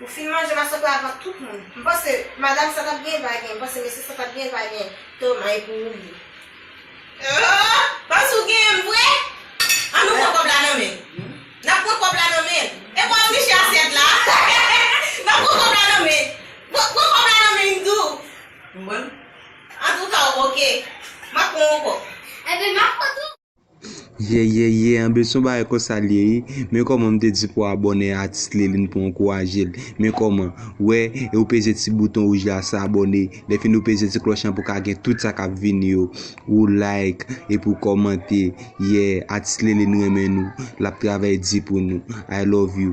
Ou fin manje masòk la avan tout moun. M panse madam sa tap gen va gen, m panse mesye sa tap gen va gen toma e pou ou li. Ooh panse ou genyen m vre an nou pran kòb la nan men n nap pran kòb la nan men n e pou al niche asyèt la n ap pran kòb la nan men n pran kòb la nan men n tou m pran antouka ok m ap pran yon kòb. Ebyen m ap pran tou. Yeyeyeye anbl son bagay konsa liye wi men kòman m te di pou abòne a atis Liline pou ankourajel men kòman wè e ou peze ti bouton wouj la sa abòne lèfini ou peze ti klòch lan pou ka gen tout sa kap vini yo ou like epi ou kòmante yeah atis Liline renmen nou lap travay di pou nou I love you.